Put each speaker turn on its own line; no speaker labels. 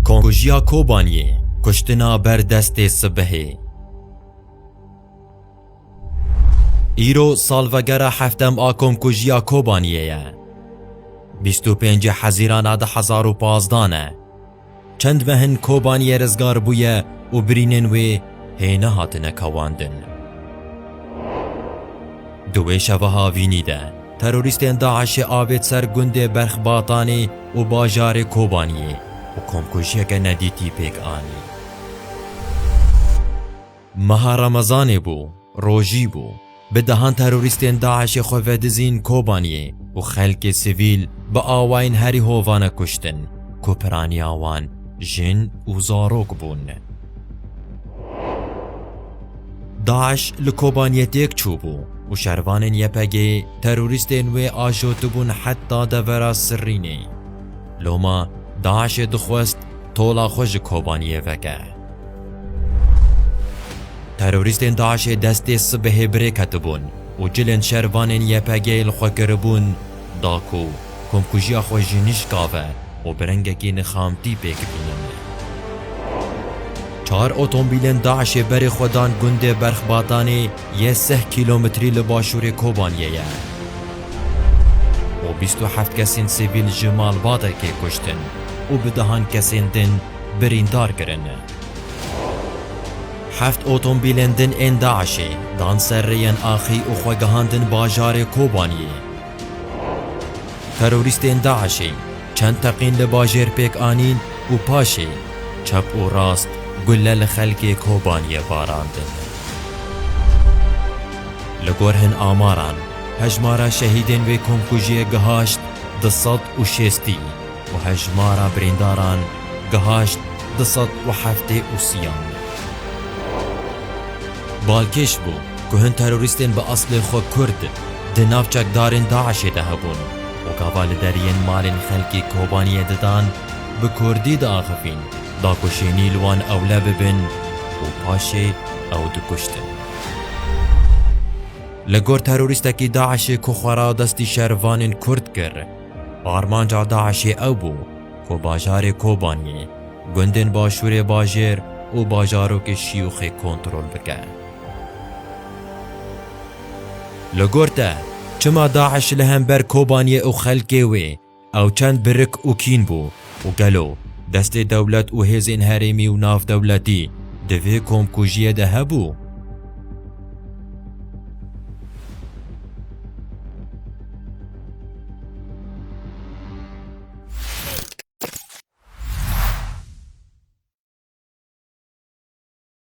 Konkujiya Kobaniyê kuştina ber destê sibehê. Îro salvegera heftem a Komkujiya Kobaniyê ye. 25 Hezîran a 2015 ne. Çend mehin Kobaniyê rizgar bûye û birînên wê hê nehatine kewandin. Di wê şeva havînî de terorîstên DAIŞ'ê avêt ser gundê Berxbatanî û bajarê Kobaniyê û komkujiyeke nedîtî pêk anî. Meha Remezanê bû, rojî bû. Bi dehan terorîstên DAIŞ'ê xwe vedizîn Kobaniyê û xelkê sivîl bi awayên herî hovane kuştin ku piraniya wan jin û zarok bûn. DAIŞ li Kobaniyê têk çûbû û şervanên YPG'ê terorîstên wê ajotibûn heta devera Sirrînê. Loma DAIŞ'ê dixwest tola xwe ji Kobaniyê veke. Terorîstên DAIŞ'ê destê sibehê birêketibûn û cilên şervanên YPG'ê li xwe kiribûn da ku komkujiya xwe jî nişkave û bi rengekî nixamtî pêk bînîne. Çar otomobîlên DAIŞ'ê berê xwe dan gundê Berxbatanê yê sih kîlometrî li başûrê Kobaniyê ye û bîst û heft kesên sivîl ji malbate kê kuştin û bi dehan kesên din birîndar kirin. Heft otomobîlên din ên DAIŞ'ê dan ser rêyên axî û xwe gihandin bajarê Kobaniyê. Terorîstên DAIŞ'ê çend teqîn li bajêr pêk anîn û paşê çep û rast gule li xelkê Kobaniyê barandin. Li gor hin amaran, hejmara şehîdên wê komkujiyê gihaşt du sed û şêstî. û hejmara birîndaran gihaşt du sed û heftê û siyan. Balkêş bû ku hin terorîstên bi eslê xwe Kurd di nav çekdarên DAIŞ'ê de hebûn û gava li deriyên malên xelkê Kobaniyê didan bi Kurdî diaxivîn da ku şênî li wan ewle bibin û paşê ew dikuştin. Li gor terorîstekî DAIŞ'ê ku xwe radestî şervanên Kurd kir, Armanca DAIŞ'ê ew bû ku bajarê Kobaniyê, gundên başûrê bajêr û bajarokê Şiyûxê kontrol bike. Li gor te, çima DAIŞ li hember Kobaniyê û xelkê wê ew çend birik û kîn bû? Û gelo destê dewlet û hêzên herêmî û navdewletî di vê komkujiyê de hebû?